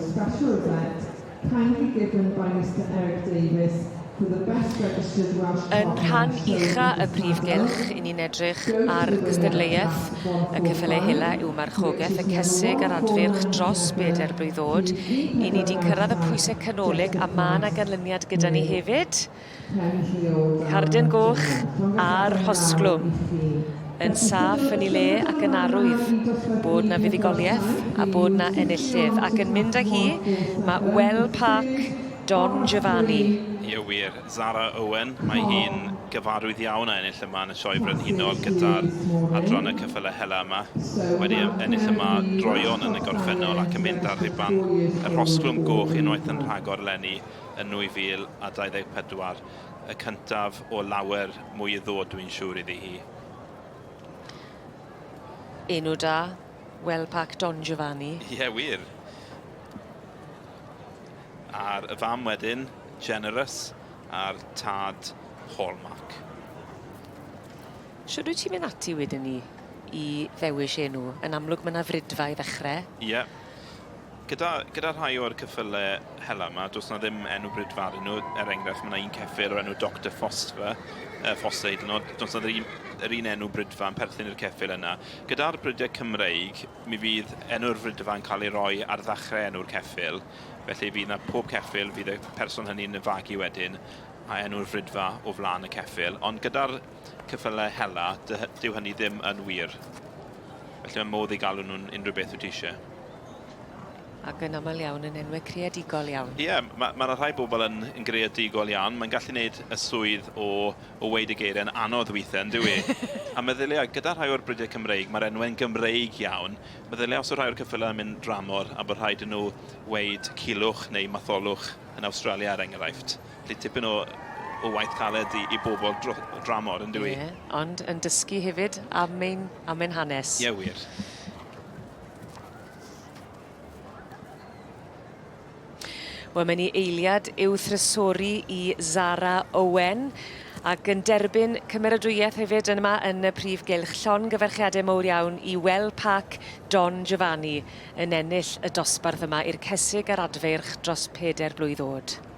Special Adept, kindly give them by Mister Eric Davies for the best registered Welsh Yn rhan ucha y prif gylch, i ni'n edrych ar gystadleuaeth y Cyffelyau Hela yw marchogaeth y cesig a'r adfyrch dros bedair blwydd ddod. I ni 'di cyrraedd y pwysau canolig a ma' 'na ganlyniad gyda ni hefyd. Cardyn goch a'r rhosglwm yn saff yn ei le ac yn arwydd bod 'na fuddugoliaeth a bod 'na enillydd. Ac yn mynd â hi, mae Well Park, Don Giovanni. Ie wir, Zara Owen, mae hi'n gyfarwydd iawn â ennill yma yn y Sioe Frenhinol gyda'r adran y cyffyle hela yma. Wedi ennill yma droeon yn y gorffennol ac yn mynd â'r rhuban y rhosglwm goch unwaith yn rhagor eleni. yn 2024, y cyntaf o lawer mwy i ddod dwi'n siŵr iddi hi. Enw da, Well Park Don Giovanni. Ie, wir. A'r y fam wedyn, Generous, a'r tad, Hallmark. Shwd wyt ti'n mynd ati wedyn ni i ddewis enw? Yn amlwg mae 'na frydfa i ddechrau. Ie. Gyda, gyda rhai o'r cyffyle hela yma, does na ddim enw brydfar yn nhw. Er enghraifft, mae yna un ceffyl o'r enw Dr Foster, uh, Foster hyd yn oed, does na ddim yr un enw brydfa yn perthyn i'r ceffyl yna. Gyda'r brydiau Cymreig, mi fydd enw'r frydfa yn cael ei roi ar ddechrau enw'r ceffyl, felly fydd na pob ceffyl, fydd y person hynny'n fagu wedyn a enw'r frydfa o flaen y ceffyl. Ond gyda'r cyffylau hela, dyw hynny ddim yn wir. Felly mae modd i galw nhw'n unrhyw beth wyt ti eisiau. Ac yn aml iawn yn enwau creadigol iawn. Ie, yeah, mae yna ma rhai bobl yn, yn greadigol iawn. Mae'n gallu gwneud y swydd o, o weid y geiriau'n anodd weithiau, yn dwi. a meddyliau, gyda rhai o'r bridiau Cymreig, mae'r enwau'n Gymreig iawn. Meddyliau os o rhai o'r cyffylau yn mynd dramor a bod rhaid yn nhw weid cilwch neu matholwch yn Awstralia, er enghraifft. Felly tipyn o, o waith caled i, i bobl dro, dramor, yn dwi. Ie, ond yn dysgu hefyd am ein, am ein hanes. Ie, wir. Wel, mae'n ei eiliad i'w thrysori i Zara Owen ac yn derbyn cymeradwyaeth hefyd yn yma yn y prif gylch. Llon gyferchiadau mowr iawn i Wel Park Don Giovanni yn ennill y dosbarth yma i'r Cesig a'r Adfeirch dros peder blwydd oed.